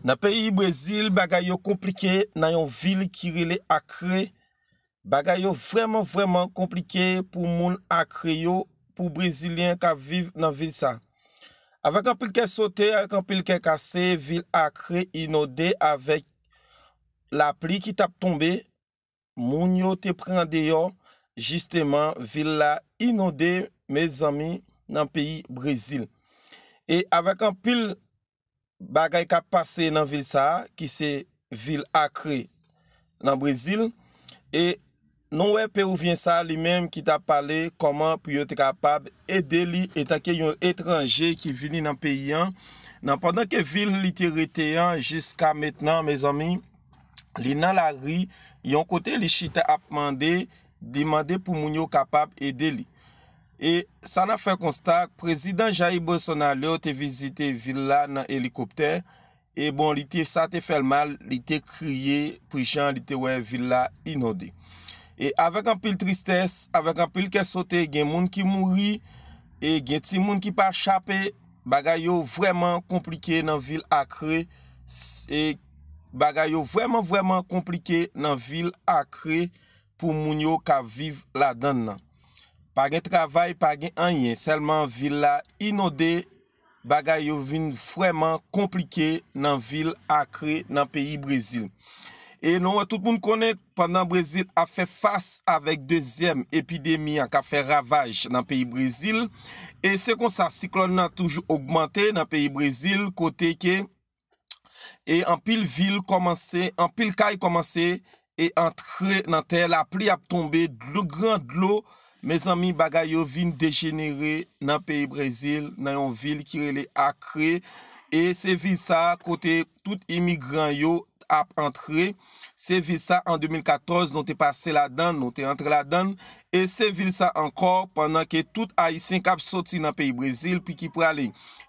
Nan peyi Brezil bagay yo konplike nan yon vil ki rele Akre, bagay yo vrèman vrèman konplike pou moun Akre yo, pou Brezilyen kap viv nan vil sa. Avèk anpil kè sote, avèk anpil kè kase, vil Akre inode avèk lapli ki tap tonbe, moun yo te pran deyò jisteman vil la inonde mezanmi nan peyi brezil e avèk anpil bagay kap pase nan vil sa ki se vil akre nan brezil e nou wè pewouvyen sa li menm ki tap pale kòman pou yo te kapab ede li etanke yon etranje ki vini nan peyi an nan pandan ke vil li te rete an jiska mentnan mezanmi. Li nan lari, yon kote li chita ap mande, li mande pou moun yo kapab ede li. E sa nan fè konsta, prezidan Jair Bolsonaro te vizite vil la nan elikoptè, e bon li te sa te fèl mal, li te kriye pou jan li te wè vil la inonde. E avèk anpil tristès, avèk anpil kè sote, gen moun ki mouri, e gen ti moun ki pa chape. Bagay yo vrèman konplike nan vil akre e Bagay yo vrèman vrèman konplike nan vil akre pou moun yo ka viv ladann nan pa gen travay pa gen anyen sèlman vil la inonde bagay yo vin vrèman konplike nan vil akre nan peyi brezil e nou wè tout moun konnen. Pandan Brezil ap fè fas avèk dezyèm epidemi an k ap fè ravaj nan peyi Brezil, e se konsa siklòn nan toujou ogmante nan peyi Brezil kote ke e anpil vil kòmanse, anpil kay kòmanse e antre nan tè, lapli ap tonbe, dlo gran dlo, mezanmi bagay yo vin dejenere nan peyi Brezil nan yon vil ki rele Acre e se vil sa kote tout imigran yo t ap antre, se vil sa an 2014 nou te pase ladann, nou te antre ladann, e se vil sa ankò pandan ke tout Ayisyen k ap soti nan peyi Brezil pi ki prale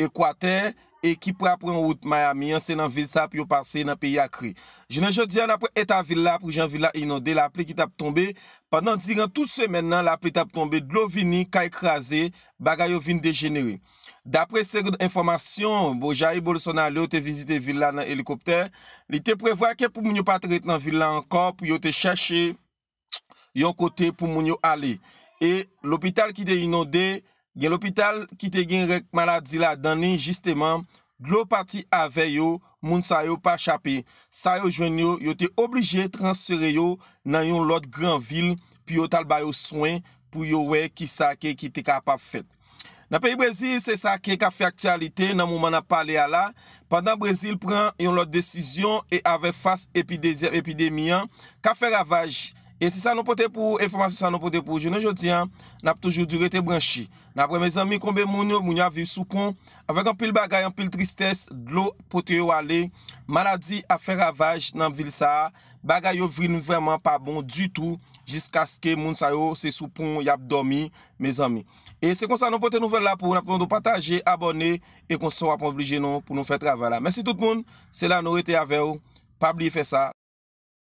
Ekwatè e ki pra pran wout Miami an, se nan vil sa pou yo pase nan peyi Akre. Jounen jodi an apre eta vil la, pou jan vil la inonde, lapli ki t ap tonbe, pandan diran tout semèn nan lapli t ap tonbe, dlo vini, kay kraze, bagay yo vin dejenere. Dapre segond enfòmasyon, bon Jair Bolsonaro te vizite vil la nan elikoptè, li te prevwa ke pou moun yo pa te ret nan vil la ankò pou yo te chèche yon kote pou moun yo ale. E lopital ki te inonde, gen lopital ki te gen rèk maladi ladan li jisteman, dlo pati avè yo, moun sa yo pa chape. Sa yo jwenn yo, yo te oblije transfere yo nan yon lòt gran vil pou yo t al ba yo swen, pou yo wè kisa ke ki te kapab fèt. Nan peyi Brezil, se sa ki ap fè aktyalite nan moman n ap pale a la, pandan Brezil pran yon lòt desizyon e avè fas epi dezyèm epidemi an k ap fè ravaj. E se sa nou pote pou ou, enfòmasyon sa nou pote pou ou jounen jodi a, n ap toujou di w rete branche. N ap renmen zanmi konbe moun yo, moun yo ap viv sou pon, avèk anpil bagay, anpil tristès, dlo pote yo ale, maladi ap fè ravaj nan vil sa a, Bagay yo vin vrèman pa bon ditou jiskaske moun sa yo se sou pon yap dòmi mezanmi. E se konsa nou pote nouvèl la pou ou, nap mande w pataje, abòne e konsa wap oblije nou pou nou fè travay la. Mèsi tout moun, se la nou rete avèw, pa bliye fè sa.